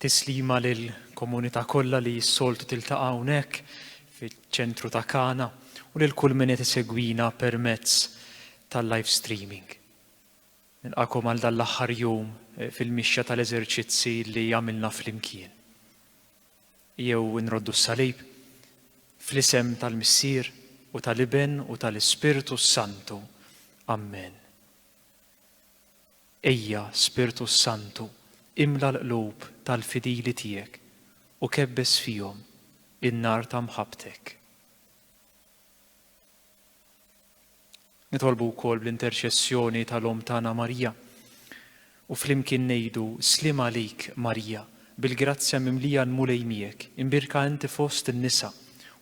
Tislima lill-komunità kollha li s-soltu tiltaqa' hawnhekk fiċ-ċentru ta' Kana u lil kull min qed isegwina permezz tal-live streaming. Nilqagħkom għal dan l-aħħar jum fil-mixja tal-eżerċizzi li għamilna flimkien. jew inroddu s-salib, fl-isem tal-Missier u tal-Iben u tal-Ispirtu s-Santu. Ammen. Ejja, Spirtu s-Santu, imla l-qlub tal-fidili tiegħek u kebbes fihom in-nar ta' mħabbtek. Nitolbu wkoll bl-interċessjoni tal-Omm tagħna Marija u flimkien ngħidu sliem għalik Marija, bil-grazzja mimlija l-Mulej miegħek, imbierka inti fost in-nisa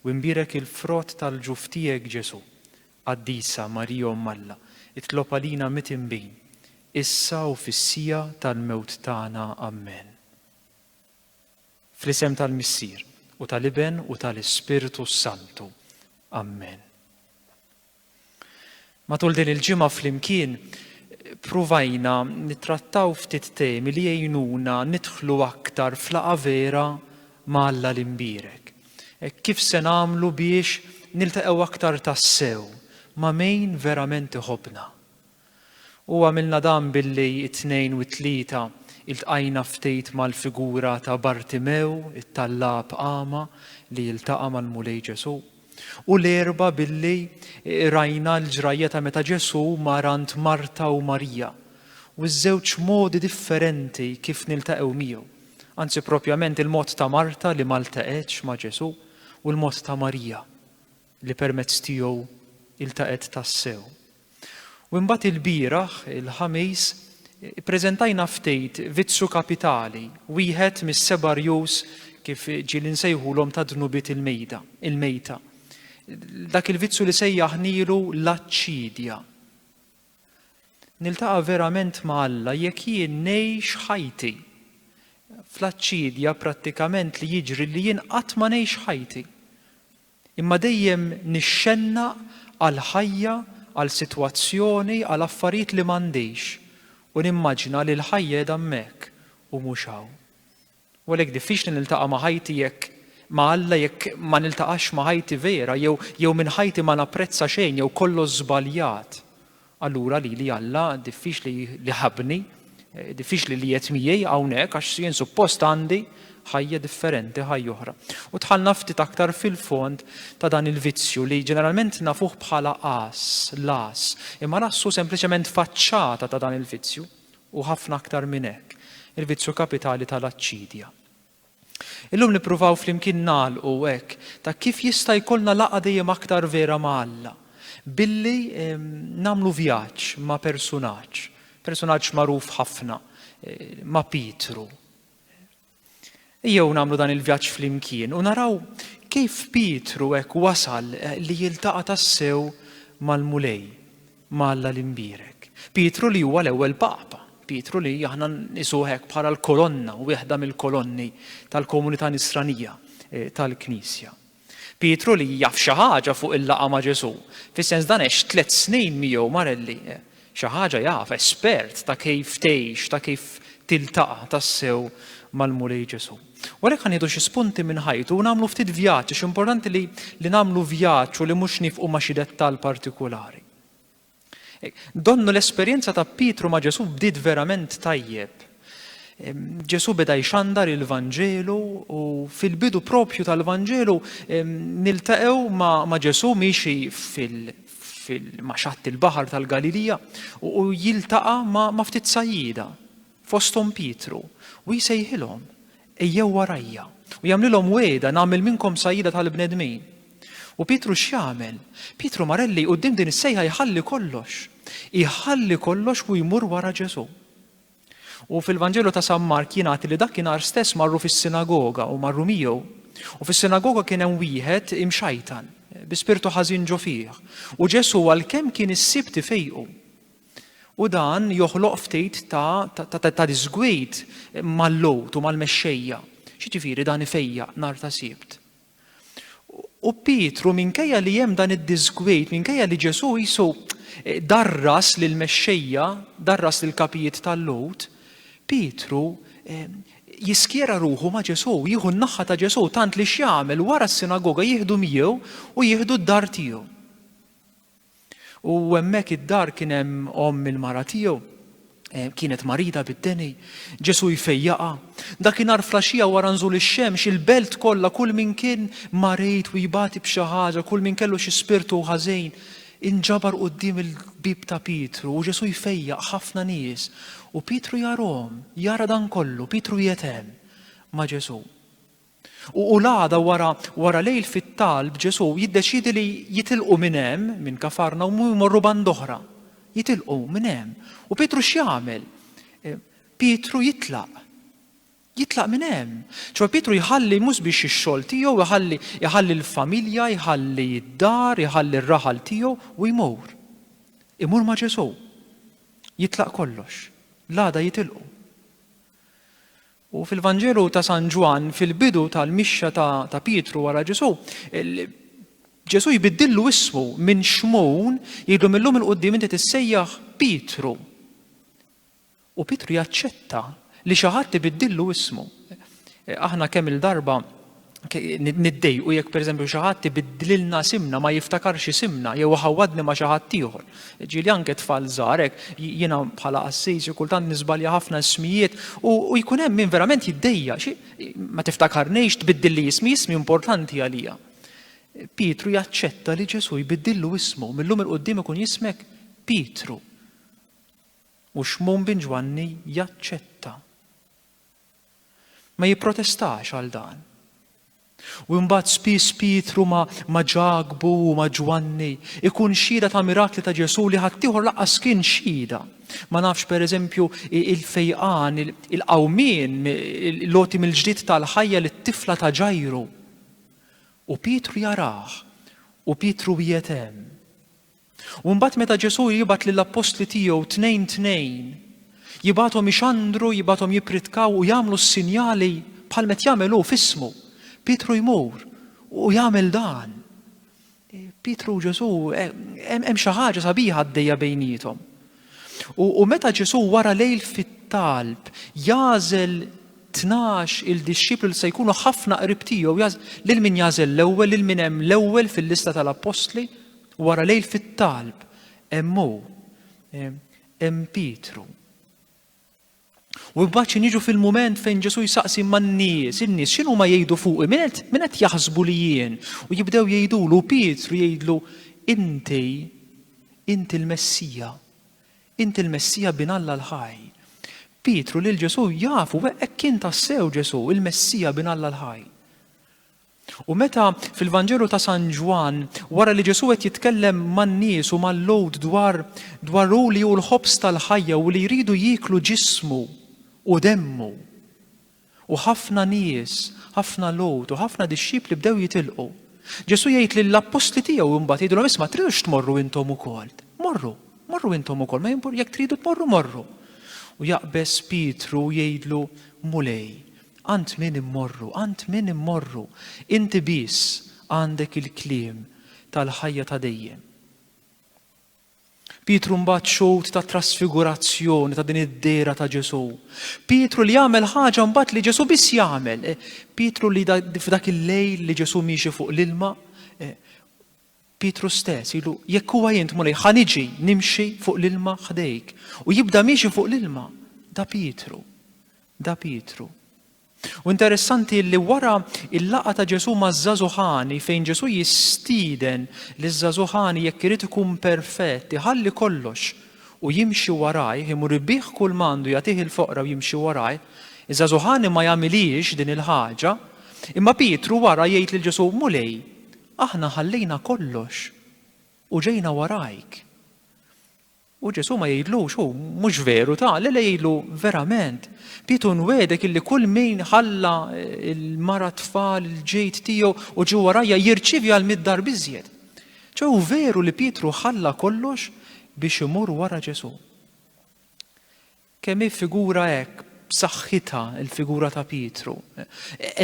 u imbierek il-frott tal-ġuf tiegħek Ġesù. Qaddisa Marija Omm Alla, itlob għalina mitinbin, issa u fis-siegħa tal-mewt tagħna. Ammen. Fl-isem tal-Missier, u tal-Iben, u tal-Ispirtu s-Santu. Amen. Matul din il-ġimgħa flimkien pruvajna nittrattaw ftit temi li jgħinuna nidħlu aktar flaqa vera ma' Alla l-imbirek. E kif se nagħmlu biex niltaqgħu aktar tassew ma' min verament iħobna? U għamilna dan billi t-Tnejn u t-Tlieta iltqajna ftit mal-figura ta' Bartimew, it-tallab agħma li jiltaqa' mal-Mulej Ġesù. U l-Erbgħa billi qrajna l-ġrajja ta' meta Ġesù mar għand Marta u Marija, u ż-żewġ modi differenti kif niltaqgħu miegħu, anzi propjament il-mod ta' Marta li ma ltaqgħetx ma' Ġesù u l-mod ta' Marija. li permezz tiegħu iltaqgħet tassew. U imbagħad ilbieraħ, il-Ħamis, ippreżentajna ftehit vizzu kapitali, wieħed mis-seba' rjus kif ġieli nsejħulhom ta' dnubiet il-mejda, il-mejta. Dak il-vizzu li sejjaħnielu l-aċċidja. Niltaqa' verament ma' Alla jekk jien ngħix ħajti fl-aċċidja prattikament li jiġri li jien qatt ma ngħix ħajti. Imma dejjem nixxennaq għal ħajja, għal sitwazzjoni, għal affarijiet li m'għandix u nimmaġina li l-ħajja qiegħda hemmhekk u mhux hawn. U għalhekk diffiċli niltaqa' ma' ħajti jekk ma' Alla jekk ma niltaqax ma' ħajti vera jew jew minn ħajti ma napprezza xejn jew kollox żbaljat. Allura lili Alla diffiċli li ħabbni, diffiċli li qiegħed miegħi hawnhekk għax jien suppost għandi ħajja differenti, ħajja oħra. U dħalna ftit aktar fil-fond ta' dan il-vizzju li ġeneralment nafuh bħala qas, las, imma l-qas hu sempliċement faċċata ta' dan il-vizzju u ħafna aktar minn hekk, il-vizzju kapitali tal-aċċidja. Illum nippruvaw flimkien nagħlqu hekk ta' kif jista' jkollna laqgħa dejjem aktar vera ma' Alla billi nagħmlu vjaġġ ma' persunaġġ, persunaġġ magħruf ħafna, ma' Pietru. Ejjew nagħmlu dan il-vjaġġ flimkien u naraw kif Pietru hekk wasal li jiltaqa' tassew mal-Mulej. ma' Alla l-Imbierek. Pietru li huwa l-ewwel Papa, Pietru li aħna nqisuh hekk bħala l-kolonna, wieħda mill-kolonni tal-komunità Nisranija tal-Knisja. Pietru li jaf xi ħaġa fuq il-laqgħa ma' Ġesù, fis-sens dan għex tliet snin miegħu Marelli, xi ħaġa jaf, espert ta' kif tgħix, ta' kif tiltaqa' tassew mal-Mulej Ġesù. U għalhekk ħa nieħdu xi spunti minn ħajtu u nagħmlu ftit vjaġġ għax importanti li li nagħmlu vjaġġ u li mhux nifqu ma' xi dettall partikulari. Donnu l-esperjenza ta' Pietru ma' Ġesù bdiet verament tajjeb. Ġesù beda jxandar il-Vanġelu u fil-bidu propju tal-Vanġelu niltaqgħu ma' Ġesù miexi fil- fil-maċat il-bahar tal-Galilija u jiltaqa ma' ftit sajjida. fosthom Pietru, u jsejħilhom, Ejjew warajja, u jagħmlilhom wegħda, Nagħmel minnkom sajjieda tal-bnedmin. U Pietru x'jagħmel? Pietru marelli quddiem din is-sejħa jħalli kollox. Iħalli kollox u jmur wara Ġesù. U fil-Vanġelu ta' San Mark jingħad li dakinhar stess marru fis-sinagoga u marru miegħu. U fis-sinagoga kien hemm wieħed imxajtan, bi spirtu ħażin ġo fih. U Ġesù għalkemm kien is-sibt ifejqu. U dan joħloq ftit ta', ta, ta, ta, ta disgwid mal-lowt u mal-mexxejja. X'jiġifieri dan ifejjaq nhar ta' Sibt. U Pietru minkejja li hemm dan id-disgwid, minkejja li Ġesù jisu eh, darras lil mexxejja, darras lil kapijiet tal-lowt, Pietru eh, jiskjera ruħu ma' Ġesù, jieħu n-naħħa ta' Ġesù tant li x'jagħmel wara s-sinagoga jieħdu miegħu u jieħdu d-dar tiegħu. U hemmhekk id-dar kien hemm omm il-mara tiegħu, eh, kienet marida bid-deni, Ġesu jfejjaqa. Dakinhar flaxija wara nżul ix-xemx, il-belt kollha kull min kien marid u jbati b'xi ħaġa, kull min kellu xi spirtu ħażejn, inġabar quddiem il-bib ta' Pietru u Ġesu jfejjaq ħafna nies u Pietru jarhom, jara dan kollu, Pietru qiegħed hemm ma' Ġesu. U l-għada wara, wara lejl fit-talb Ġesù jiddeċiedi li jitilqu minn hemm, minn Kafarna u jmorru band oħra. Jitilqu minn hemm. U Pietru x'jagħmel? Eh, Pietru jitlaq. Jitlaq minn hemm. ċoħe Pietru jħalli mhux biex ix-xogħol tiegħu, jħalli jħalli l-familja, jħalli d-dar, jħalli r-raħal tiegħu u jmur. Imur ma' Ġesù. Jitlaq kollox. L-għada jitilqu. U fil-Vanġelu ta' San Ġwann, fil-bidu tal-mixja ta' Pietru wara Ġesù, Ġesù jbiddillu ismu minn Xmun, jgħidlu mil-lum 'il quddiem inti tissejjaħ Pietru. U Pietru jaċċetta li xi ħadd ibiddillu ismu. Aħna kemm-il darba niddejqu jekk pereżempju xi ħadd ibiddlilna simna ma jiftakarx isimna jew iħawwadni ma xi ħadd ieħor. Ġieli anke tfal żgħar hekk jiena bħala qassis kultant niżbalja ħafna ismijiet u jkun hemm min verament jiddejja xi ma tiftakarnejx tbiddilli ismi ismi importanti għalija. Pietru jaċċetta li Ġesu jbiddillu ismu millum il-qudiem ikun jismek Pietru. U xmun bin Ġwanni jaċċetta. Ma jipprotestax għal dan. U imbagħad spiss Pietru ma' ma' Ġakbu u ma' Ġwanni ikun xhieda ta' mirakli ta' Ġesù li ħaddieħor laqqas kien xhieda. Ma nafx pereżempju il-fejqan, il-qawmien, l-għoti mill-ġdid tal-ħajja lit-tifla ta' Ġajru. U Pietru jarah, u Pietru qiegħed hemm. U mbagħad meta Ġesù jibgħat lill-appostli tiegħu tnejn tnejn, jibgħathom ixandru, jibgħathom jippritkaw u jagħmlu s-sinjali bħal met jagħmel hu f'ismu. Pietru jmur u jagħmel dan. Pietru u Ġesù eh, hemm xi ħaġa sabiħa għaddejja bejniethom. U meta Ġesù wara lejl fit-talb jażel tnax il-dixxiplu li se jkunu ħafna qrib tiegħu lil min jażel l-ewwel, lil min hemm l-ewwel fil-lista tal-appostli, Wara lejl fit-talb, hemm hu, hemm Pietru. U mbagħad xi niġu fil-mument fejn Ġesu jsaqsi man-nies, in-nies x'inhu ma jgħidu fuqi, min qed min qed jaħsbu li jien? U jibdew jgħidulu Pietru jgħidlu inti inti l-Messija. Inti l-Messija bin Alla l-ħaj. Pietru lil Ġesu jafu hekk kien tassew Ġesu, il-Messija bin Alla l-ħaj. U meta, fil-Vanġelu ta' San Ġwann, wara li Ġesù qed jitkellem man-nies u mal-Lhud dwar dwar hu li hu l-ħobż tal-ħajja u li jridu jieklu ġismu u demmu, u ħafna nies, ħafna Lhud u ħafna dixxipli bdew jitilqu. Ġesù jgħid lill-appostli tiegħu imbagħad jgħidilhom isma' tridux tmorru intom ukoll. Morru, morru intom ukoll, ma jimpur jekk tridu tmorru morru. U jaqbeż Pietru u jgħidlu, Mulej, Għand min immorru, għand min immorru? Inti biss għandek il-kliem tal-ħajja ta' dejjem. Pietru mbagħad xut ta' trasfigurazzjoni ta' din id-dera ta' Ġesu. Pietru li jagħmel ħaġa mbagħad li Ġesu biss jagħmel. Eh, Pietru li f'dak il-lejl li Ġesu miexi fuq l-ilma, eh, Pietru stess ilu, Jekk huwa int, Mulej, ħa niġi, nimxi fuq l-ilma ħdejk. U jibda miexi fuq l-ilma. Da Pietru. Da Pietru. U interessanti li wara il-laqa ta' Ġesu ma' żazuħani fejn Ġesu jistiden li żazuħani jekk irid ikun perfett iħalli kollox u jimxi waraj, imur ibih kull mandu jagħtih il-foqra u jimxi waraj, iż-żazuħani ma jagħmilhiex din il-ħaġa, imma Pietru wara jgħid lil Ġesu Mulej, Aħna ħallejna kollox u ġejna warajk. U Ġesù ma jgħidlux, hu, mhux veru, ta, le le jgħidlu, verament, Pietru nwegħdek illi kull min ħalla l-mara tfal il-ġejt tiegħu u ġie warajja jirċievi għal mitt darb iżjed. Ċe hu veru li Pietru ħalla kollox biex imur wara Ġesù. Kemm hi figura hekk b'saħħitha l-figura ta' Pietru!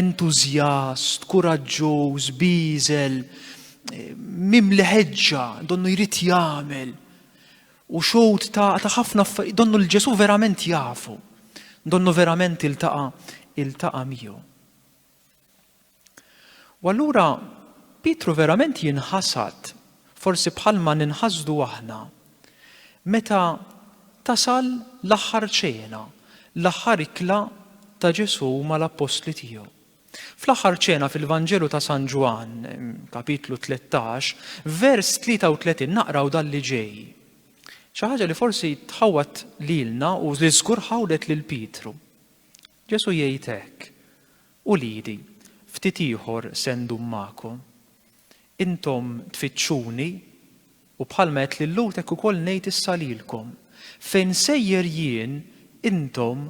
Entużjast, kuraġġuż, bieżel, mimli ħeġġa, donnu jrid jagħmel, u xhud ta' ħafna affarijiet, donnu lil Ġesù verament jafu, donnu verament iltaqa' miegħu. U allura Pietru verament jinħasad, forsi bħalma ninħasdu aħna, meta tasal l-aħħar ċena, l-aħħar ikla ta' Ġesù mal-appostli tiegħu. Fl-aħħar ċena fil-Vanġelu ta' San Ġwann, kapitlu 13, vers 33 naqraw dan li ġej. Xi ħaġa li forsi tħawwat lilna u li żgur ħawdet lil Pietru. Ġesù jgħid hekk. Uliedi, ftit ieħor se ndum magħkom. Intom tfittxuni, u bħalma għedt lil Lut hekk ukoll ngħid issa lilkom, Fejn nsejjer jien, intom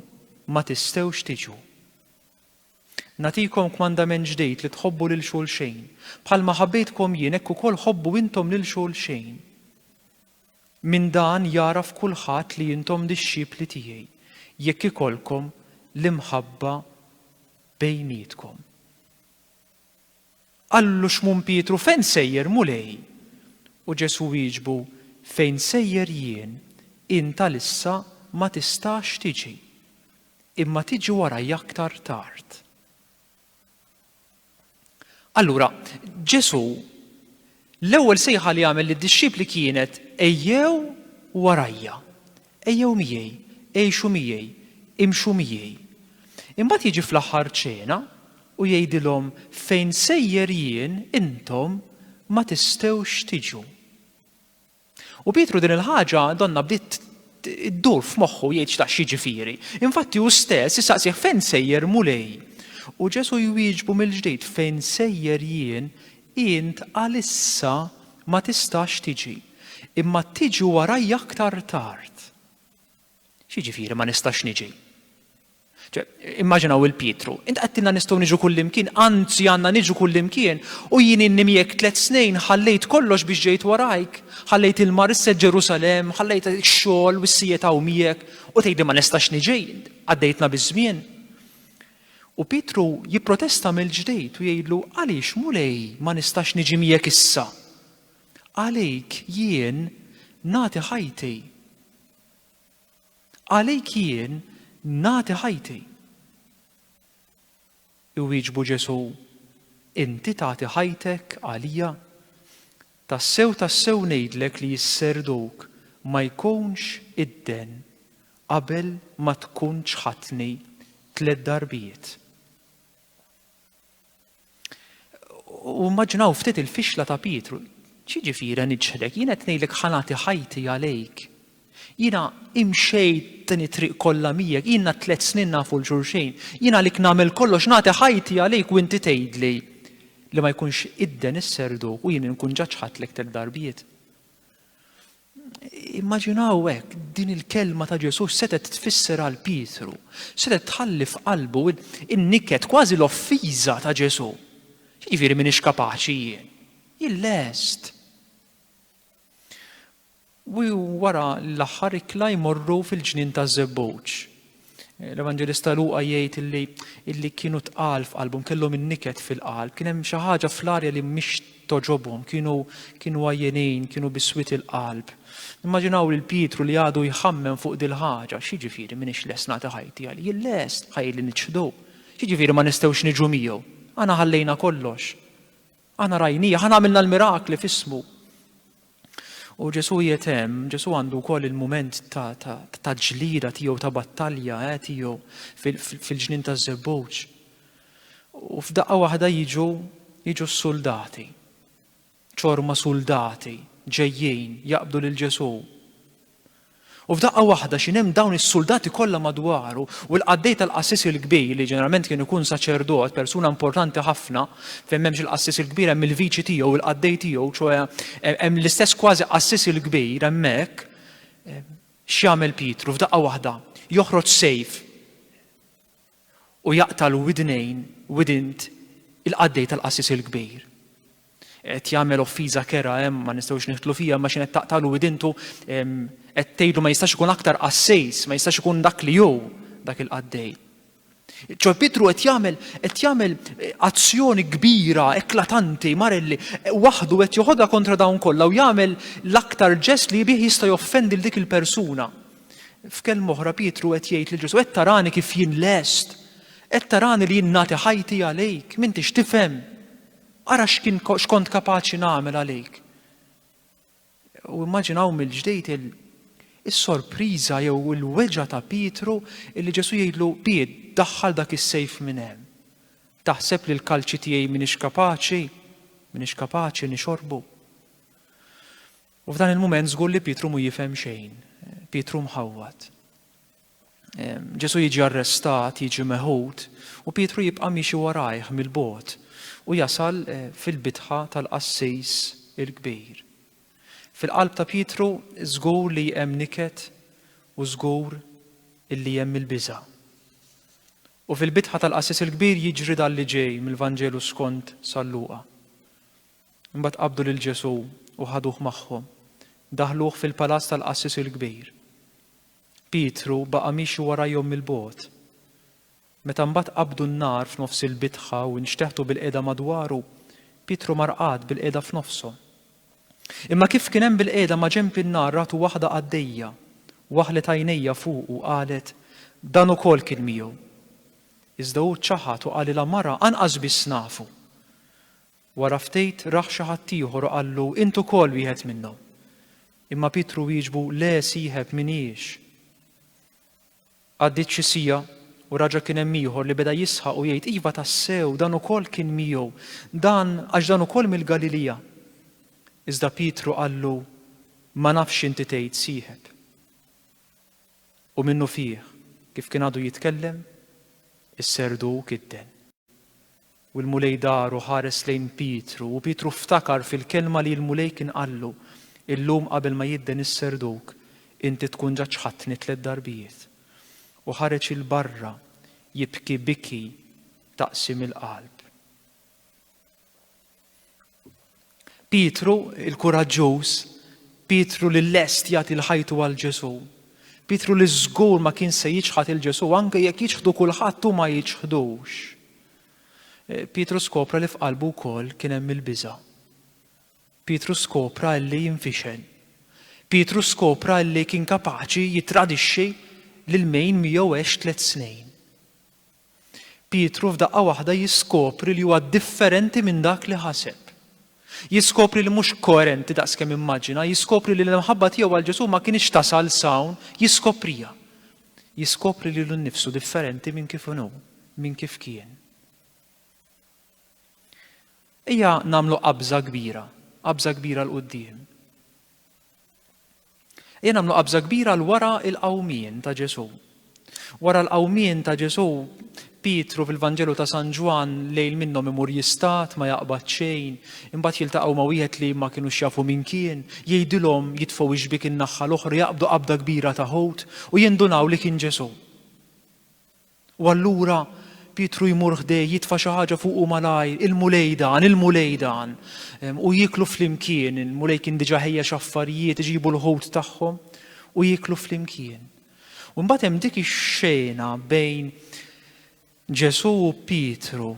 ma tistgħux tiġu. Nagħtikom kmandament ġdid li tħobbu lil xulxejn. Bħalma ħabbejtkom jien hekk ukoll ħobbu intom lil xulxejn. Minn dan jagħraf kulħadd li intom dixxipli tiegħi, jekk ikollkom l-imħabba bejnietkom. Qallu Xmun Pietru, Fejn sejjer, Mulej? U Ġesù wieġbu, Fejn sejjer jien, int għalissa ma tistax tiġi, imma tiġi warajja aktar tard. Allura, Ġesù, l-ewwel sejħa li għamel lid-dixxipli kienet ejjew warajja, ejjew miegħi, għixu miegħi, imxu miegħi. Imbagħad jiġi fl-aħħar ċena u jgħidilhom fejn sejjer jien intom ma tistgħux tiġu. U Pietru din il-ħaġa donna bdiet iddur f'moħħu jgħid x'taq x'jiġifieri. Infatti hu stess isaqsih fejn sejjer Mulej. U Ġesu jwieġbu mill-ġdid fejn sejjer jien int għalissa ma tistax tiġi, imma tiġi warajja aktar tard. X'jiġifieri ma nistax niġi? Immaġinaw il-Pietru, int qattilna nistgħu niġu kullimkien, anzi għandna niġu kullimkien, u jien inni miegħek tliet snin ħallejt kollox biex ġejt warajk, ħallejt il-marissa Ġerusalem, ħallejt ix-xogħol u s-sijiet hawn miegħek, u tgħidli ma nistax niġi, għaddejtna biż-żmien. U Pietru jipprotesta mill-ġdejt u jgħidlu, għaliex mulej ma nistax niġi miegħek issa? Għalejk jien nagħti ħajti Għalik jien nagħti ħajti. Iwieġbu Ġesù, Inti tagħti ħajtek għalija? Tassew, tassew ngħidlek li s-serduk ma jkunx idden qabel ma tkun ċħadtni tliet darbiet. U immaġinaw ftit il-fixla ta' Pietru. Ċiġifieri niġħdek, jiena qed ngħidlek ħanati ħajti għalejk. Jiena imxejt din it-triq kollha miegħek, jiena tliet snin nafu l-xulxejn. Jiena għalik nagħmel kollox nagħti ħajti għalejk u inti tgħidli li ma jkunx idden is-serduk u jien inkun ġaġħadlek tliet darbiet. Immaġinaw hekk, din il-kelma ta' Ġesù setgħet tfisser għal Pietru, setgħet tħalli f'qalbu in-niket kważi l-offiża ta' Ġesù. Jiġifieri m'iniex kapaċi jien. Jien lest. U wara l-aħħar ikla jmorru fil-ġnien taż-żebbuġ. L-Evanġelista Luqa jgħid illi illi kienu tqal f'qalbhom, kellhom in-niket fil-qalb, kien hemm xi ħaġa fl-arja li mhix toġobhom, kienu kienu għajjenin, kienu biswit il-qalb. Immaġinaw lil Pietru li għadu jħammem fuq dil-ħaġa, x'jiġifieri m'iniex lest nagħti ħajti għal jien lest ħajli niċħdu. X'jiġifieri ma nistgħux niġu miegħu? Aħna ħallejna kollox. Aħna rajnieh, aħna għamilna l-mirakli f'ismu. U Ġesu jiet hemm, Ġesu għandu wkoll il-mument ta' ġlida tiegħu ta' battalja eh, tiegħu fil-ġnien ta' żebbuġ. U f'daqqa waħda jiġu jiġu s-suldati. Ċorma suldati ġejjin jaqbdu lil Ġesu. U f'daqqa waħda x'in hemm dawn is-suldati kollha madwaru u l-qaddej tal-qassis il-kbir li ġeneralment kien ikun saċerdot, persuna importanti ħafna, fejn m'hemmx il-qassis il-kbir hemm il-viċi tiegħu, il-qaddej tiegħu, ċoe hemm l-istess kważi qassis il-kbir hemmhekk. X'jagħmel Pietru f'daqqa waħda? Joħroġ sejf. u jaqta' l-widnejn widint il-qaddej tal-qassis il-kbir. Qed jagħmel offiża kerha hemm ma nistgħux nidħlu fiha ma x'in qed taqtagħlu widintu qed tgħidlu ma jistax ikun aktar qassejs, ma jistax ikun dak li hu dak il-qaddej. Ċo Pietru qed jagħmel qed jagħmel eh, azzjoni kbira, eklatanti, marelli, eh, waħdu qed joħodha kontra dawn kollha u jagħmel l-aktar ġest li bih jista' joffendi l dik il-persuna. F'kelma oħra Pietru qed jgħid lil Ġesù, qed tarani kif jien lest, qed tarani li jien nagħti ħajti għalik, m'intix tifhem. Ara x'kien x'kont kapaċi nagħmel għalik. U immaġinaw mill-ġdejt is-sorpriża jew il-weġa ta' Pietru illi Ġesù jgħidlu Piet daħħal dak is-sejf minn hemm. Taħseb li l-kalċi tiegħi m'iniex kapaċi, m'iniex kapaċi nixorbu. U f'dan il-mument żgur li Pietru mu jifhem xejn. Pietru mħawwad. Ġesu jiġi arrestat, jiġi meħud, u Pietru jibqa' miexi warajh mill-bot u jasal eh, fil-bitħa tal-qassis il-kbir. Fil-qalb ta' Pietru żgur li hemm niket u żgur illi hemm il-biża. U fil-bitħa tal-qassis il-kbir jiġri dal-li ġej mill-Vanġelu skont sal-luqa. Imbagħad qabdu lil Ġesù u ħaduh magħhom. Daħħluh fil-palazz tal-qassis il-kbir. Pietru baqa' miexi warajhom mill-bogħod. Meta mbagħad qabdu n-nar f'nofs il-bitħa u nxteħtu bilqiegħda madwaru, Pietru mar qagħad bilqiegħda f'nofshom. Imma kif kien hemm bilqiegħda maġenb in-nar ratu waħda qaddejja, waħlet għajnejha fuqu u qalet, Dan ukoll kien miegħu. Iżda hu ċaħad u qalilha, Mara, anqas biss nafu. Wara ftit rah xi ħadd ieħor u qallu, Int ukoll wieħed minnhom. Imma Pietru wieġbu, Le, sieħeb, m'iniex. Għaddiet xi siegħa, u raġa' kien hemm ieħor li beda jisħaq u jgħid, Iva tassew, dan ukoll kien miegħu, dan, għax dan ukoll mill-Galilija. Iżda Pietru qallu, Ma nafx x'inti tgħid, sieħeb. U minnufih, kif kien għadu jitkellem, is-serduk idden. U l-Mulej dar u ħares lejn Pietru, u Pietru ftakar fil-kelma li l-Mulej kien qallu, Illum qabel ma jidden is-serduk, inti tkun ġa ċħadtni tliet darbijiet. U ħareġ 'il barra, jibki biki ta' qsim il-qalb. Pietru il-kuraġġuż, Pietru li lest jagħti l-ħajtu għal Ġesù, Pietru li żgur ma kien se jiċħad il Ġesù anke jekk jiċħdu kulħadd hu ma jiċħdux. Eh, Pietru skopra li f'qalbu wkoll kien hemm il-biża'. Pietru skopra li jinfixel. Pietru skopra li kien kapaċi jitradixxi lil min miegħu għex tliet snin. Pietru f'daqqa waħda jiskopri li huwa differenti minn dak li ħaseb. Jiskopri li mhux koerenti daqs kemm immaġina, jiskopri li l-imħabba tiegħu għal Ġesù ma kinitx tasal s'hawn, jiskopriha. Jiskopri lilu nnifsu differenti minn kif inhu, minn kif kien. Ejja nagħmlu qabża kbira, qabża kbira l-qudiem. Ejja nagħmlu qabża kbira l wara l-qawmien ta' Ġesù. Wara l-qawmien ta' Ġesù, Pietru fil-Vanġelu ta' San Ġwann lejl minnhom imur jistat, ma jaqbad xejn, imbagħad jiltaqgħu ma' wieħed li ma kinux jafu min kien, jgħidilhom jitfgħu x-xbiek in-naħħa l-oħra, jaqbdu qabda kbira ta' ħut u jindunaw li kien Ġesù. U allura Pietru jmur ħdejh, jitfa' xi ħaġa fuqu malajr, il-Mulej dan, il-Mulej dan. U jieklu flimkien, il-Mulej kien diġà ħejjex affarijiet, iġibu l-ħut tagħhom u jieklu flimkien. U mbagħad hemm dik ix-xena bejn Ġesù u Pietru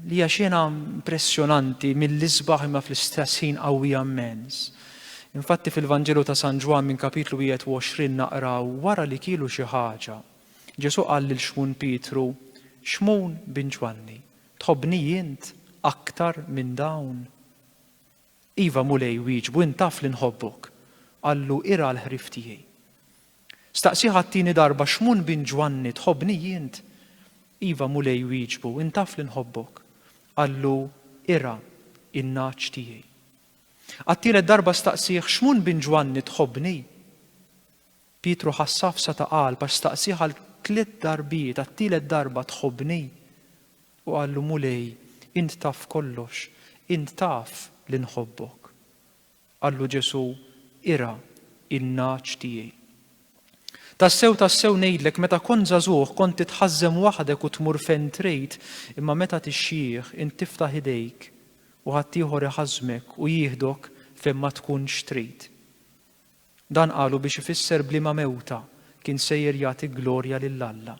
li hija xena impressjonanti mill-isbaħ imma fl-istess ħin qawwija immens. Infatti fil-Vanġelu ta' San Ġwan minn kapitlu 21 naqraw wara li kielu xi ħaġa, Ġesù qal lil Xmun Pietru, Xmun bin Ġwanni, tħobbni int aktar minn dawn? Iva, Mulej, wieġbu, int taf li nħobbok. Qallu, Irgħa l-ħrief tiegħi. Staqsieh għat-tieni darba, Xmun bin Ġwanni, tħobbni int? Iva, Mulej, wieġbu, int taf li nħobbok. Qallu, Irgħa in-nagħaġ tiegħi. Għat-tielet darba staqsieh, Xmun bin Ġwanni, tħobbni? Pietru ħa safsa ta' qalb għax staqsieh għal tliet darbiet, Għat-tielet darba tħobbni? U qallu, Mulej, int taf kollox, int taf li nħobbok. Qallu Ġesù, Irgħa n-nagħaġ tiegħi. Tassew, tassew ngħidlek, meta kont żagħżugħ kont titħażżem waħdek u tmur fejn trid, imma meta tixjieħ int tiftaħ idejk u ħaddieħor iħażżmek u jieħdok fejn ma tkunx trid. Dan qalu biex ifisser b'liema mewta kien sejjer jagħti glorja lil Alla.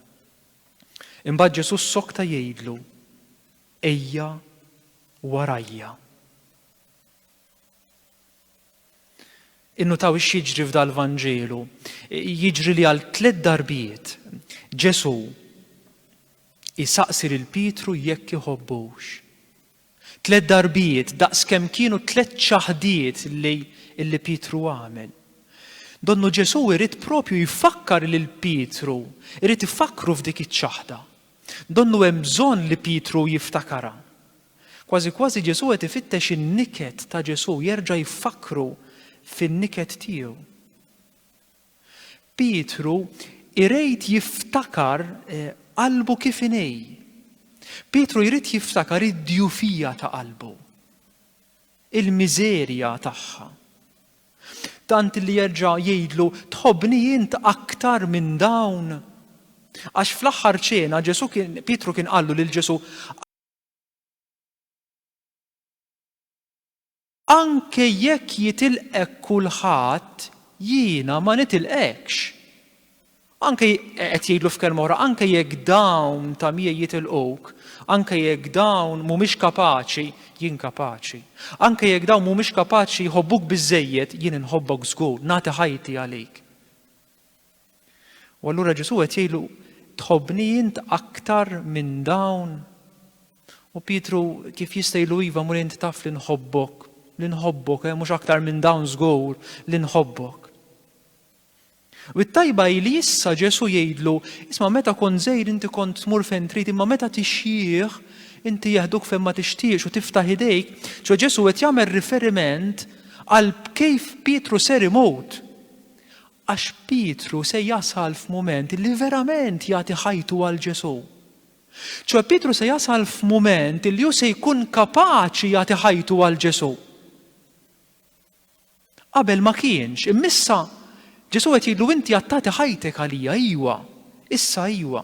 Imbagħad Ġesù ssokta jgħidlu, Ejja warajja. Innutawx x'jiġri f'dal-Vanġelu. Jiġri li għal tliet darbiet Ġesù jsaqsi lil Pietru jekk iħobbux. Tliet darbijiet, daqs kemm kienu t-tliet ċaħdiet li li Pietru għamel. Donnu Ġesù jrid proprju jfakkar lil Pietru, irid ifakkru f'dik iċ-ċaħda. Donnu hemm bżonn li Pietru jiftakarha. Kważi kważi Ġesù qed ifittex in-niket ta' Ġesù, jerġa' jfakkru fin-niket tiegħu. Pietru jrid jiftakar qalbu kif inhi. Pietru jrid jiftakar id-djufija ta' qalbu, il-miżerja tagħha. Tant li jerġa' jgħidlu tħobbni int aktar minn dawn. Għax fl-aħħar ċena Ġesu kien Pietru kien qallu lil Ġesu Anke jekk jitilqek kulħadd, jiena ma nitilqekx. Anke, qed jgħidlu f'kelma oħra, anke jekk dawn ta' miegħi jitilquk, anke jekk dawn mhumiex kapaċi, jien kapaċi. Anke jekk dawn mhumiex kapaċi jħobbuk biżżejjed, jien inħobbok żgur, nagħti ħajti għalik. U allura Ġesù qed jgħidlu, Tħobbni int aktar minn dawn? U Pietru kif jista' jgħidlu iva mur int taf li nħobbok, li nħobbok, eh, mhux aktar minn dawn żgur li nħobbok. U t-tajba hi li issa Ġesù jgħidlu, isma' meta kont żejr inti kont tmur fejn trid imma meta tixjih inti jeħduk fejn ma tixtiex u tiftaħ idejk, ċo Ġesù qed jagħmel riferiment għal kif Pietru ser imut. Għax Pietru se jasal f'mument li verament jagħti ħajtu għal Ġesù. Ċoe Pietru se jasal f'mument li hu se jkun kapaċi jagħti ħajtu għal Ġesù. Qabel ma kienx, immissa Ġesù qed jgħidlu inti għad tagħti ħajtek għalija, ejwa, issa ejwa.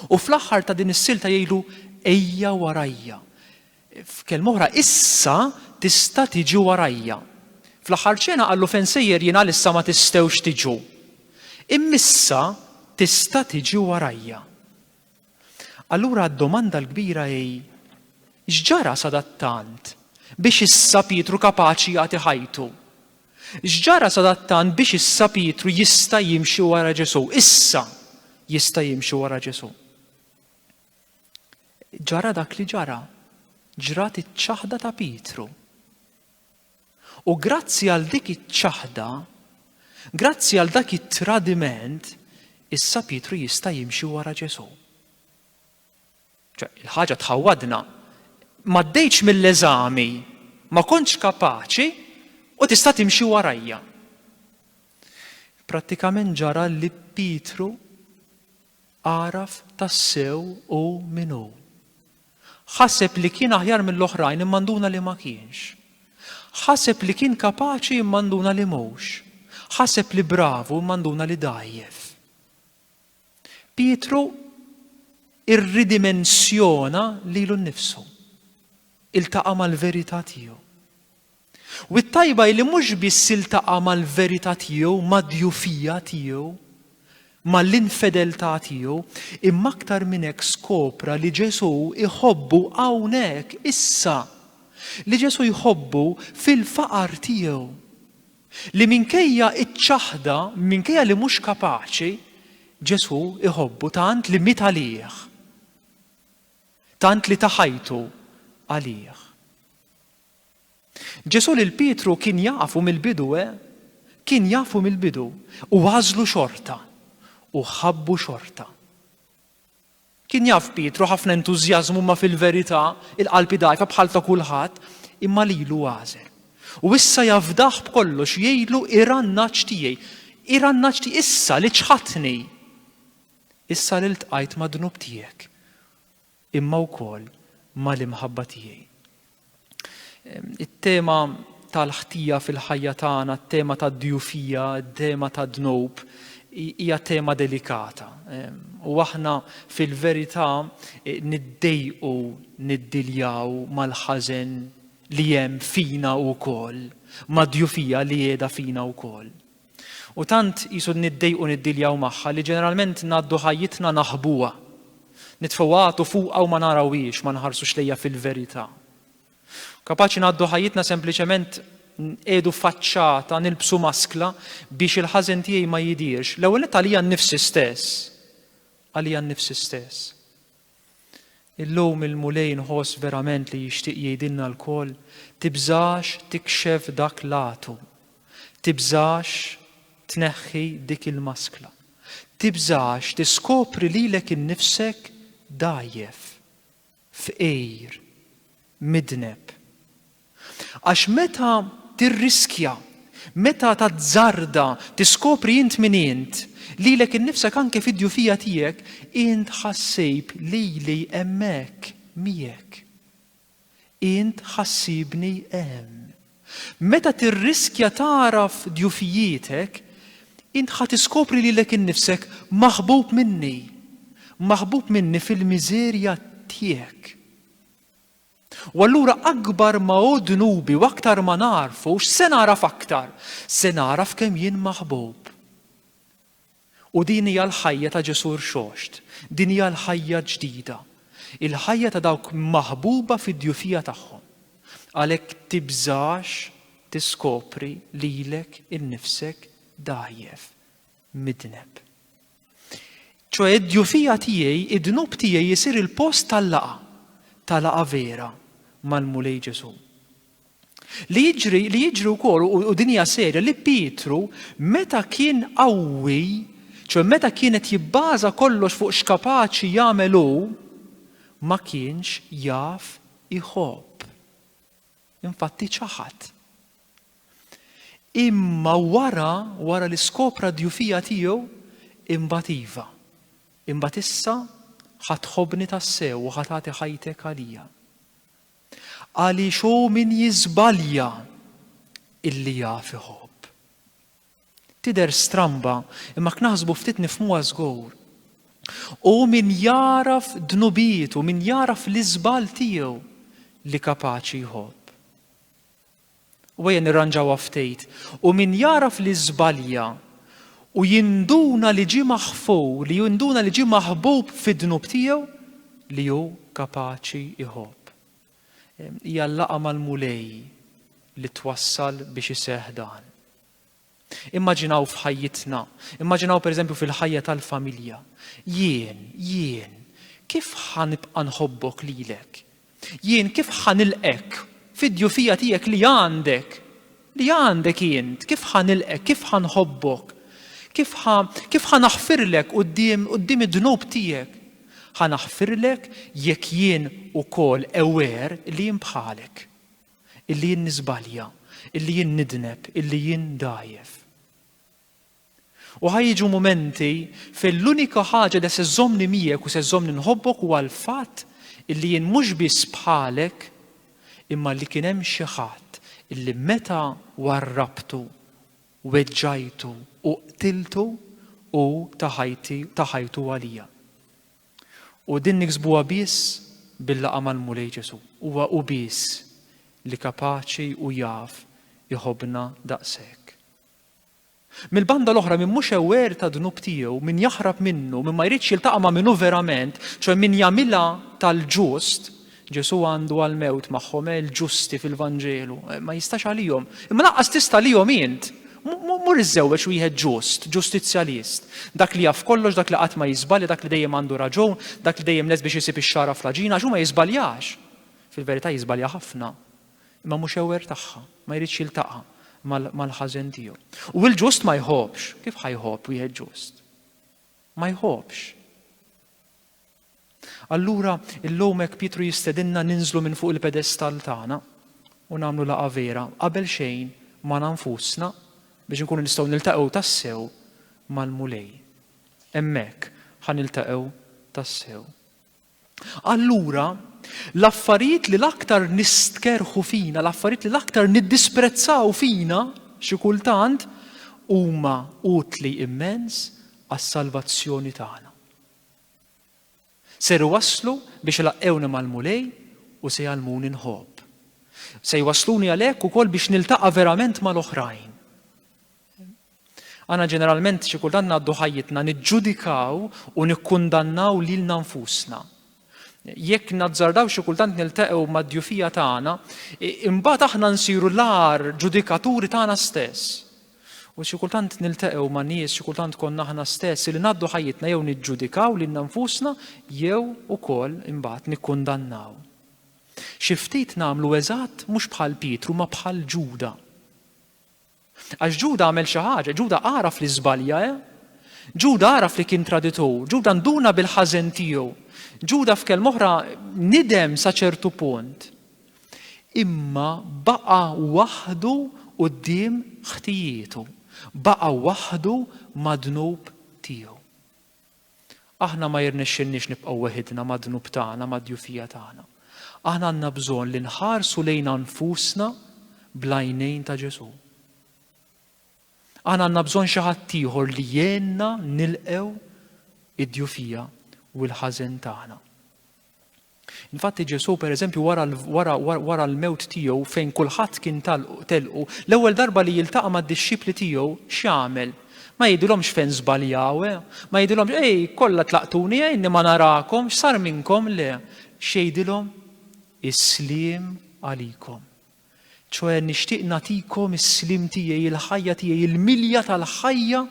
U fl-aħħar ta' din is-silta jgħidlu ejja warajja. F'kelma oħra, issa tista' tiġi warajja. Fl-aħħar ċena qallu fejn sejjer jien għalissa ma tistgħux tiġu. Imma issa tista' tiġi warajja. Allura d-domanda l-kbira hi, x'ġara sadattant biex issa Pietru kapaċi jagħti ħajtu? X'ġara sadattant biex issa Pietru jista' jimxi wara Ġesù? Issa jista' jimxi wara Ġesù. ġara dak li ġara, ġrat iċ-ċaħda ta' Pietru. U grazzi għal dik iċ-ċaħda, grazzi għal dak it-tradiment, issa Pietru jista' jimxi wara Ġesù. Il-ħaġa tħawwadna, ma ddejtx mill-eżami, ma kontx kapaċi u tista' timxi warajja. Prattikament ġara li Pietru Agħraf tassew hu min hu. Ħaseb li kien aħjar mill-oħrajn imma nduna li ma kienx. Ħaseb li kien kapaċi imma nduna li mhux. Ħaseb li bravu imma nduna li dgħajjef. Pietru irridimensjona lilu nnifsu. Iltaqa' mal-verità tiegħu. U t-tajba hi li mhux biss iltaqa' mal-verità tiegħu, mad-djufija tiegħu, mal-infedeltà tiegħu, imma aktar minn hekk skopra li Ġesù jħobbu hawnhekk, issa, li Ġesù jħobbu fil-faqar tiegħu. Li minkejja ċ-ċaħda, minkejja li mhux kapaċi, Ġesù jħobbu tant li miet għalih. Tant li ta ħajtu għalih. Ġesù lil Pietru kien jafu mill-bidu, eh, kien jafu mill-bidu, u għażlu xorta, u ħabbu xorta. Kien jaf Pietru ħafna entużjażmu ma fil-verità il-qalb dgħajfa bħal ta' kulħadd, imma lilu għażel. U issa jafdah b'kollox jgħidlu irannaċ tiegħi, irannaċ tiegħi issa li ċħadtni. Issa li ltqajt mad-dnub tiegħek imma wkoll mal-imħabba tiegħi. It-tema tal-ħtija fil-ħajja tagħna, t-tema tad-djufija, t-tema tad-dnub, hija tema delikata. U aħna fil-verità e, niddejqu niddiljaw mal-ħażen li hemm fina wkoll, mad-djufija li qiegħda fina wkoll. U tant qisu niddejqu niddiljaw magħha li ġeneralment ngħaddu ħajjitna naħbuha. Nitfgħu għatu fuqha u ma narawhiex, ma nħarsux lejha fil-verità. Kapaċi ngħaddu ħajjitna sempliċement nqiegħdu faċċata, nilbsu maskla biex il-ħażen tiegħi ma jidhirx. L-ewwel nett għalija nnifsi stess. Għalija nnifsi stess. Illum il-Mulej nħoss verament li jixtieq jgħidilna lkoll, tibżax tikxef dak l-għatu, tibżax tneħħi dik il-maskla, tibżax tiskopri lilek innifsek dgħajjef, fqir, midneb, Għax meta tirriskja, meta tazzarda tiskopri int min int, lilek innifsek anke fid-djufija tiegħek, int ħa ssib lili hemmhekk miegħek. Int ħa ssibni hemm. Meta tirriskja tagħraf djufijietek, int ħa tiskopri lilek innifsek maħbub minni, maħbub minni fil-miżerja tiegħek. U allura akbar ma hu dnubi u aktar ma nagħrfu, x'se nagħraf aktar? Se nagħraf kemm jien maħbub. U din hija l-ħajja ta' Ġesù rxoxt, din hija l-ħajja ġdida, il-ħajja ta' dawk maħbuba fid-djufija tagħhom. Għalhekk tibżax tiskopri lilek innifsek dgħajjef, midneb. ċoħe id-djufija tiegħi, id-dnub tiegħi jisir il-post tal-laqa, ta' laqa vera mal-Mulej Ġesu. Li jiġri, li jiġri wkoll u dinja serja li Pietru meta kien qawwi, ċoħe meta kienet jibbaża kollox fuq x'kapaċi jagħmel hu, ma kienx jaf iħobb. Infatti ċaħad. Imma wara, wara li skopra d-djufija tiegħu, imbagħad iva. Imbagħad issa ħa tħobbni tassew u ħa tagħti ħajtek għalija. Għaliex hu min jiżbalja illi jaf iħobb. Tidher stramba, imma jekk naħsbu ftit nifhmuha żgur. Hu min jagħraf dnubietu, min jagħraf l-iżball tiegħu li kapaċi jħobb. U ejja nirranġawha ftit, u min jagħraf li żbalja u jinduna li ġie maħfur, li jinduna li ġie maħbub fid-dnub tiegħu li hu kapaċi iħobb. Hija l-laqa mal-mulej li twassal biex iseħħ dan. Immaġinaw f'ħajjitna, immaġinaw pereżempju fil-ħajja tal-familja. Jien, jien, kif ħa nibqa' nħobbok lilek? Jien kif ħa nilqek fid-djufija tiegħek li għandek? Li għandek int, kif ħa nilqek, kif ħa nħobbok? Kif ħa kif ħa naħfirlek quddiem quddiem id-dnub tiegħek? Ħa naħfirlek jekk jien ukoll ewer li jien bħalek. illi jien niżbalja, illi jien nidneb, illi jien dgħajjef. U ħa jiġu mumenti fejn l-unika ħaġa li se żżommni miegħek u se żżommni nħobbok huwa l-fatt illi jien mhux biss bħalek imma li kien hemm xi ħadd illi meta warrabtu, weġġajtu u qtiltu hu ta' ħajti ta' ħajtu għalija. U din niksbuha biss bil-laqgħa mal-Mulej Ġesù. Huwa hu biss li kapaċi u jaf iħobbna daqshekk. Mill-banda l-oħra min mhux aware ta' dnub tiegħu, min jaħrab minnu, min ma jridx jiltaqa' ma' minnu verament, ċoe min jagħmilha tal-ġust, Ġesù għandu għall-mewt magħhom, eh, il-ġusti fil-Vanġelu. Eh, ma jistax għalihom. Imma lanqas tista' għalihom int. Mur iżżewweġ wieħed ġust, ġustizzjalist. Dak li jaf kollox, dak li qatt ma jiżbalja, dak li dejjem għandu raġun, dak li dejjem lest biex isib ix-xara fl-aġina, għax hu ma jiżbaljax. Fil-verità jiżbalja ħafna, imma mhux ewer tagħha, ma jridx jiltaqa' mal-ħażen tiegħu. U l-ġust ma jħobbx, kif ħajħobb wieħed ġust? Ma jħobbx. Allura, illum hekk Pietru jistedinna ninżlu minn fuq il-pedestall tagħna u nagħmlu laqgħa vera qabel xejn magħna nfusna biex inkunu nistgħu niltaqgħu tassew mal-Mulej. Hemmhekk ħa niltaqgħu tassew. Allura, l-affarijiet li l-aktar nistkerħu fina, l-affarijiet li l-aktar niddisprezzaw fina xi kultant huma utli immens għas-salvazzjoni tagħna. Ser iwasslu biex ilaqqewni mal-Mulej u se jgħallmuni nħobb. Se jwassluni għalhekk ukoll biex niltaqa' verament mal-oħrajn. Aħna ġeneralment xi kultant ngħaddu ħajjitna niġġudikaw u nikkundannaw lilna nfusna. Jekk nazzardaw xi kultant niltaqgħu mad-djufija tagħna, imbagħad aħna nsiru l-agħar ġudikaturi tagħna stess. U xi kultant nilteqgħu ma' nies, xi kultant konna aħna stess, li ngħaddu ħajjitna jew niġġudikaw lilna nfusna jew ukoll imbagħad nikkundannaw. Xi ftit nagħmlu eżatt mhux bħal Pietru ma bħal Ġuda. Għax Ġuda għamel xi ħaġa, Ġuda għaraf li żbalja, eh? Ġuda għaraf li kien traditur, Ġuda nduna bil-ħażen tiegħu. Ġuda f'kelm oħra nidem sa ċertu punt. Imma baqa' waħdu quddiem ħtijietu, baqa' waħdu mad-dnub tiegħu. Aħna ma jirnexxilniex nibqgħu weħidna mad-dnub tagħna, mad-djufija tagħna. Aħna għandna bżonn li nħarsu lejna nfusna bl-għajnejn ta' Ġesù. Aħna għandna bżonn xi ħadd ieħor li jgħinna nilqgħu id-djufija u l-ħażen tagħna. Infatti Ġesù pereżempju wara wara wara l-mewt tiegħu fejn kulħadd kien telqu, l-ewwel darba li jiltaqa' mad-dixxipli tiegħu x'jagħmel? Ma jgħidilhomx fejn żbaljaw, eh? Ma jgħidilhomx ej kollha tlaqtuni eh inni ma narakom, x'sar minnkom le. X'jgħidilhom? Is-sliem għalikom. ċoe nixtieq nagħtikom is-sliem tiegħi, il-ħajja tiegħi, il-milja tal-ħajja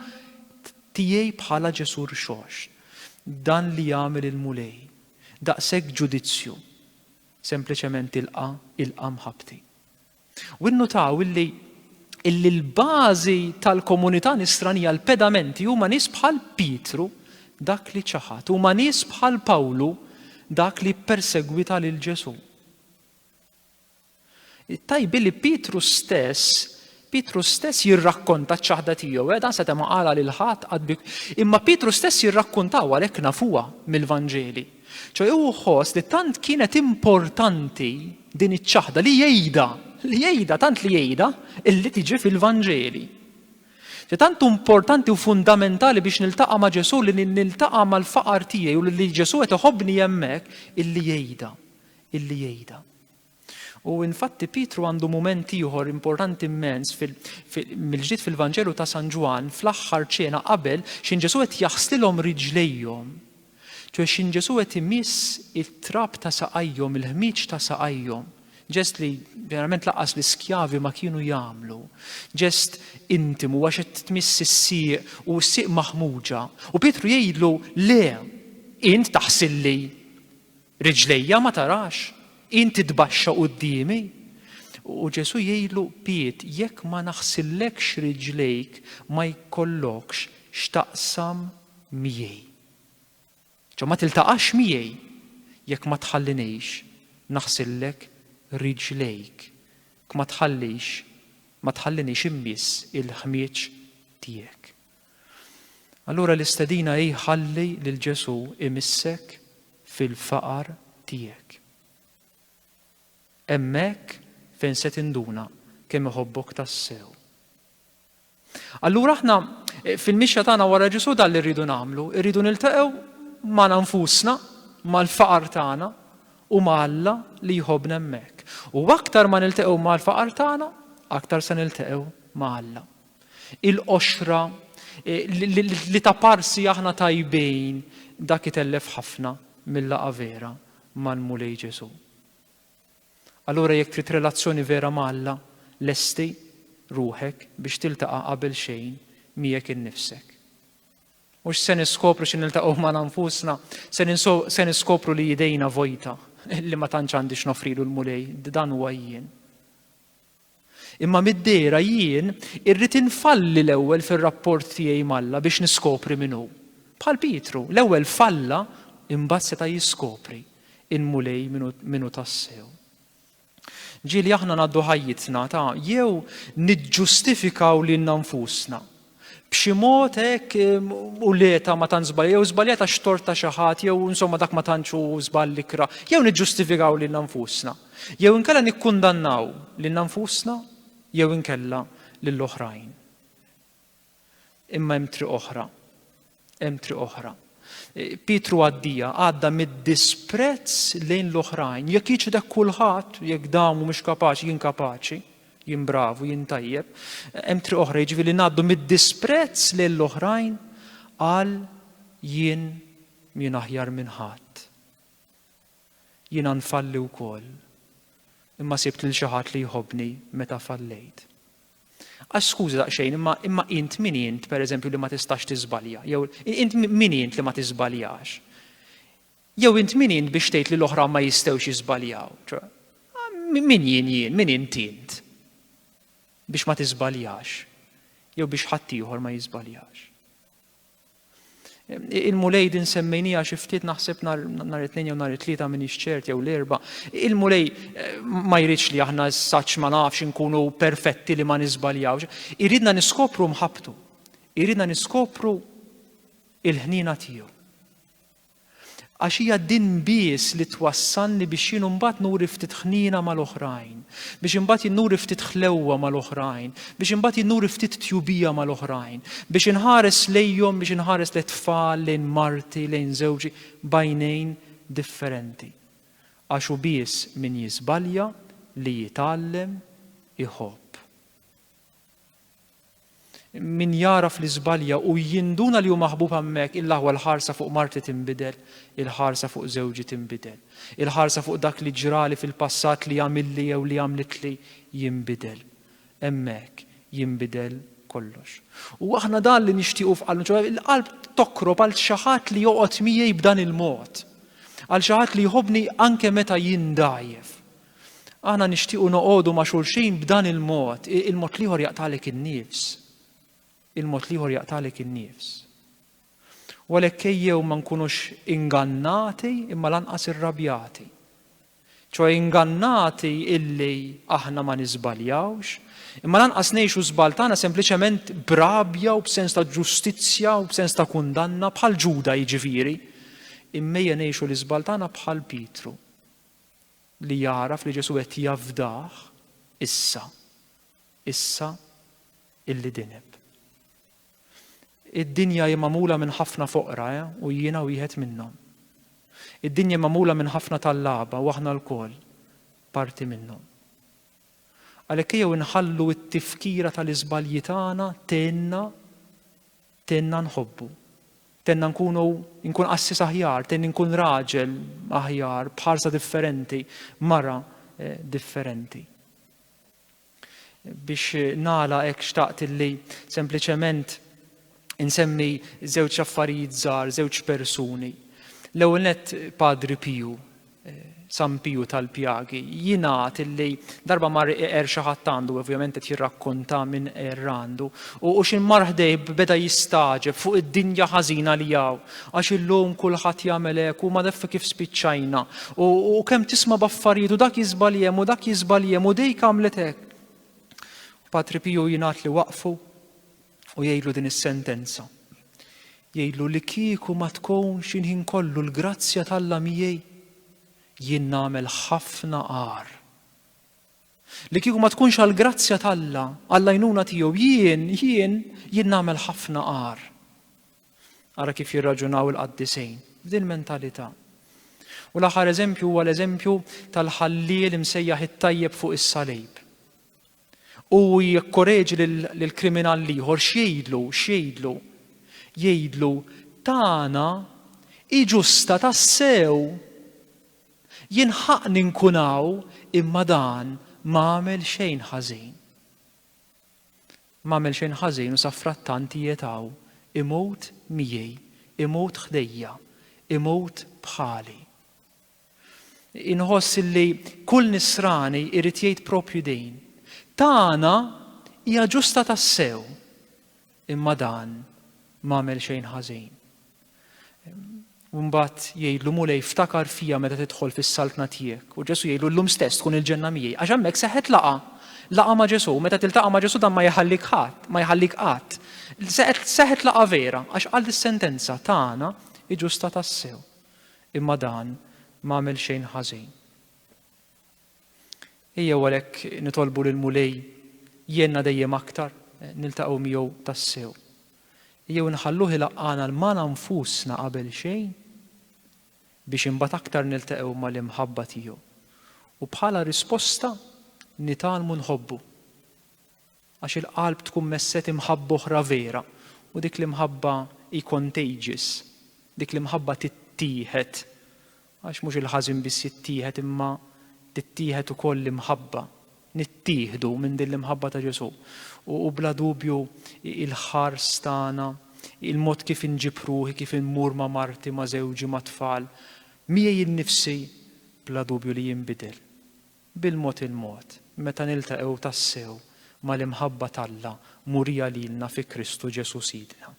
tiegħi bħala Ġesù rxoxt. Dan li jagħmel il-Mulej. Daqshekk ġudizzju. Sempliċement ilqa', ilqa' mħabbti. U nnutaw illi illi l-bażi tal-komunità nisranija l-pedamenti huma nies bħal Pietru dak li ċaħat, huma nies bħal Pawlu dak li ppersegwita lil Ġesù. Tajbi li Pietru stess, Pietru stess jirrakkonta ċ-ċaħda tiegħu, eh, dan seta' ma qala lil ħadd qatt imma Pietru stess jirrakkuntaw għalhekk nafuha mill-Vanġeli. Ċoj hu ħoss li tant kienet importanti din iċ-ċaħda li jgħidha, li jgħidha tant li jgħidha illi tiġi fil-Vanġeli. Ġe tant importanti u fundamentali biex niltaqa' ma' Ġesù li niltaqa' mal-faqar tiegħi u li Ġesù qed iħobbni hemmhekk illi jgħidha, illi jgħidha. U infatti Pietru għandu mument ieħor importanti immens mill-ġdid fil-Vanġelu ta' San Ġwann fl-aħħar ċena qabel xin Ġesu qed jaħslilhom riġlejhom. Ċwe xin Ġesu qed imiss it-trab ta' saqajhom, il-ħmieġ ta' saqajhom. Ġest li ġeneralment laqas l-iskjavi ma kienu jagħmlu. Ġest intimu għax qed tmiss is-sieq u s-sieq maħmuġa. U Pietru jgħidlu le, int taħsilli Riġlejja ma tarax? Int titbaxxa quddiemi? U Ġesù jgħidlu, Piet, jekk ma naħsillekx riġlejk ma jkollokx x'taqsam miegħi. Ġo ma tiltaqax miegħi jekk ma tħallinix naħsillek riġlejk, kma tħallix ma tħallinix immiss il-ħmieġ tiegħek. Allura l-istedina hi ħalli lil Ġesù imissek fil-faqar tiegħek. Hemmhekk fejn se tinduna kemm iħobbok tassew. Allura aħna eh, fil-mixja tagħna wara Ġesù dan li rridu nagħmlu, rridu niltaqgħu ma' nfusna, mal-faqar tagħna u ma' Alla li jħobbna hemmhekk. U aktar ma niltaqgħu mal-faqar tagħna, aktar se niltaqgħu ma' Alla il-qoxra li ta' parsi aħna tajbejn dak itellef ħafna mill-laqa vera mal-Mulej Ġesu. Allura jekk trid relazzjoni vera ma' Alla, lesti ruħek biex tiltaqa' qabel xejn miegħek innifsek. Mhux se niskopru xi niltaqgħu ma' nfusna, se niskopru li jidejna vojta li ma tantx għandix nofrilu l-Mulej, dan huwa jien. Imma mid-dehra jien irrid infalli l-ewwel fir-rapport tiegħi m'Alla biex niskopri min hu. Bħal Pietru, l-ewwel falla imbagħad seta' jiskopri il-Mulej min hu tassew. Ġieli aħna ngħaddu ħajjitna ta' jew niġġustifikaw lilna nfusna b'xi mod hekk u leta ma tant żbalja, jew żbaljat għax tort ta' xi ħadd, jew insomma dak ma tantx hu żball ikra, jew niġġustifikaw lil nfusna, jew inkella nikkundannaw lil nfusna, jew inkella lill-oħrajn. Imma hemm triq oħra. Hemm triq oħra. Pietru għaddija għadda mid-disprezz lejn l-oħrajn. Jekk jiċħdek kulħadd, jekk dawn mhumiex kapaċi, jien kapaċi, jien bravu, jien tajjeb, hemm triq oħra jiġifieri ngħaddu mid-disprezz lejn l-oħrajn għal jien jien aħjar minn ħadd. Jiena nfalli wkoll. Imma sibt lil xi ħadd li jħobbni meta fallejt. Għax skuża daqsxejn, imma imma int min int pereżempju li ma tistax tiżbalja, jew int min int li ma tiżbaljax. Jew int min int biex tgħid li l-oħra ma jistgħux jiżbaljaw. Ah, min jien jien, min int int biex ma tiżbaljax, jew biex ħadd ieħor ma jiżbaljax. Il-Mulej din semmejnija xi ftit naħseb nhar it-tnejn jew nhar it-tlieta minn ċert jew l-erba'. Il-Mulej eh, ma jridx li aħna s-saċ ma nafx inkunu perfetti li ma nisbaljawx. Iridna niskopru mħabtu. Iridna niskopru il-ħnina tiegħu. Għax hija din biss li twassalni biex jien imbagħad nuri ftit ħniena mal-oħrajn, biex imbagħad jien nuri ftit ħlewwa mal-oħrajn, biex imbagħad jien nuri ftit tjubija mal-oħrajn, biex inħares lejhom, biex inħares lejn tfal, lejn marti, lejn żewġi, bajnejn differenti. Għax hu biss min jiżbalja li jitgħallem iħobb. Min jagħraf li żbalja u jinduna li hu maħbub hemmhekk, il-aħwa l-ħarsa fuq marti tinbidel, il-ħarsa fuq żewġi tinbidel, il-ħarsa fuq dak li ġrali fil-passat li għamilli jew li għamlitli jinbidel. Hemmhekk jinbidel kollox. U aħna dan li nixtiequ f'qalbna, ċoħe il-qalb tokrob għal xi ħadd li joqgħod miegħi b'dan il-mod. Għal xi ħadd li jħobbni anke meta jindajjef. Aħna nixtiequ noqogħdu ma' xulxin b'dan il-mod, il-mod liħor jaqtalek in-nifs. Il-mod liħor jaqtalek in-nifs. U għalhekk ejjew ma nkunux ingannati imma lanqas irrabjati. ċoħe ingannati illi aħna ma nisbaljawx, imma lanqas ngħixu żbal tagħna sempliċement brabja u b'sens ta' ġustizzja u b'sens ta' kundanna bħal Ġuda jiġifieri. Immejja ngħixu l-iżbal tagħna bħal Pietru li jagħraf li Ġesù qed jafdah issa, issa illi dineb. Id-dinja hi magħmula minn ħafna foqra, eh, u jiena wieħed minnhom. Id-dinja hi magħmula minn ħafna tal-laba u aħna lkoll parti minnhom. Għalhekk jew inħallu t-tifkira tal-iżbalji tagħna tenna Tenna nħobbu. Tenna nkunu nkun qassis aħjar, tenni nkun raġel aħjar, b'ħarsa differenti, mara eh, differenti. Biex nala hekk xtaqt illi sempliċement insemmi żewġ affarijiet żgħar, żewġ persuni. L-ewwel nett Padri Piju, San Piju tal-Pjagi jingħad illi darba mar iqer xi ħadd għandu, ovvjament qed jirrakkonta minn qerr għandu, u xi mar ħdejh beda jistagħġeb fuq id-dinja ħażina li hawn, għax illum kulħadd jagħmel hekk u madeffi kif spiċċajna, u kemm tisma' b'affarijiet u dak jiżball hemm u dak jiżball hemm u dejk għamlet hekk. Patri Piju jingħad li waqfu u jgħidlu din is-sentenza. Jgħidlu li kieku ma tkunx inħin kollu l-grazzja tal-la miegħi, jien nagħmel ħafna għar. Li kieku ma tkunx għall-grazzja tal-la, għall-għajnuna tiegħu, jien, jien, jien nagħmel ħafna għar. Ara kif jirraġunaw il-qaddisejn, f'din mentalità. U l-aħħar eżempju huwa l-eżempju tal-ħalliel imsejjaħ it-tajjeb fuq is-salib. U jikkoreġi lill-kriminal l-ieħor, x'jgħidlu? X'jgħidlu? Jgħidlu, Tagħna hi ġusta tassew! Jien ħaqqni nkun hawn imma dan m'għamel xejn ħażin. M'għamel xejn ħażin u safrattant qiegħed hawn, imut miegħi, imut ħdejja, imut bħali. Inħoss li kull nisrani irid jgħid propju din. Tagħna hija ġusta tassew, imma dan m'għamel xejn ħażin. Mbagħad jgħidlu mulej ftakar fija meta tidħol fis-saltna tiegħek. U Ġesu jgħidlu llum stess tkun il-ġenna miegħi għax hemmhekk seħħet laqa. Laqa ma' Ġesu, meta tiltaqa' ma' Ġesu dan ma jħallik ħadd, ma jħallik qatt. Seħħet laqa vera għax qal is-sentenza tagħna iġusta tassew. Imma dan ma għamel xejn ħażin. Ejjew għalhekk nitolbu lill-Mulej jgħinna dejjem aktar niltaqgħu miegħu tassew. Ejjew inħalluh ilaqqagħna 'l magħna nfusna qabel xejn biex imbagħad aktar niltaqgħu mal-imħabba tiegħu u bħala risposta nitgħallmu nħobbu. Għax il-qalb tkun messet imħabba oħra vera, u dik l-imħabba hi contagious, dik l-imħabba tittieħed, għax mhux il-ħażin biss jittieħed imma tittieħed ukoll l-imħabba, nittieħdu minn din l-imħabba ta' Ġesù. U bla dubju il-ħars tagħna, il-mod kif inġib ruħi, kif immur ma' marti, ma' żewġi, mat-tfal, miegħi nnifsi, bla dubju li jinbidel. Bil-mod il-mod, meta niltaqgħu tassew mal-imħabba t'Alla murija lilna fi Kristu Ġesù Sidna.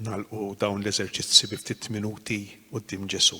nalqu dawn l-eżerċizzi bi ftit minuti quddiem Ġesu.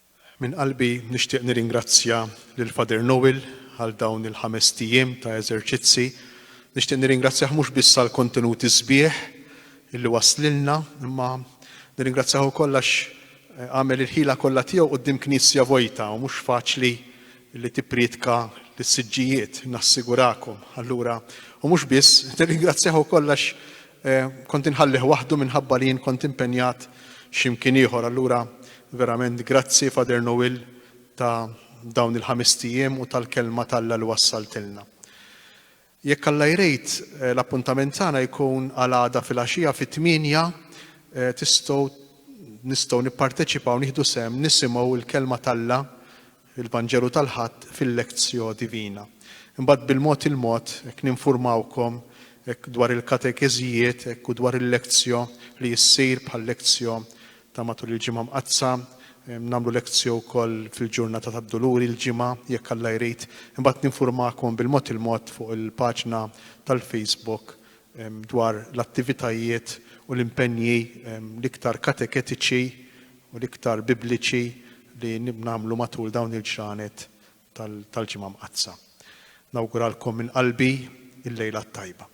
Minn qalbi nixtieq nirringrazzja lil Father Noel għal dawn il-ħamest ijiem ta' eżerċizzi. Nixtieq nirringrazzjah mhux biss għall-kontenuti sbieħ illi wasslilna, imma nirringrazzjah ukoll għax għamel il-ħila kollha tiegħu quddiem Knisja vojta u mhux faċli li tipprietka lis-siġġijiet, nassigurakom. Allura, u mhux biss, nirringrazzjah ukoll għax Kont inħallih waħdu minħabba li jien kont impenjat xi mkien ieħor. Allura verament grazzi Father Noel ta' dawn il-ħamist ijiem u tal-kelma t'Alla li wassaltilna. Jekk Alla jrid, l-appuntament tagħna jkun għal għada filgħaxija fit-tmienja tistgħu nistgħu nipparteċipaw nieħdu sehem nisimgħu l-kelma t'Alla il-Vanġelu tal-Ħadd fil-Lectio Divina. Imbagħad bil-mod il-mod hekk ninfurmawkom hekk dwar il-katekeżijiet hekk u dwar il-Lectio li ssir bħal-Lectio ta' matul il-Ġimgħa Mqaddsa, nagħmlu Lectio wkoll fil-ġurnata tad-Duluri l-Ġimgħa jekk Alla jrid. Imbagħad ninfurmakom bil-mod il-mod fuq il-paġna tal-Facebook dwar l-attivitajiet u l-impenji l-iktar kateketiċi u l-iktar Bibliċi li nagħmlu matul dawn il-ġranet tal-Ġimgħa Mqaddsa. Nawguralkom minn qalbi l-lejla t-tajba.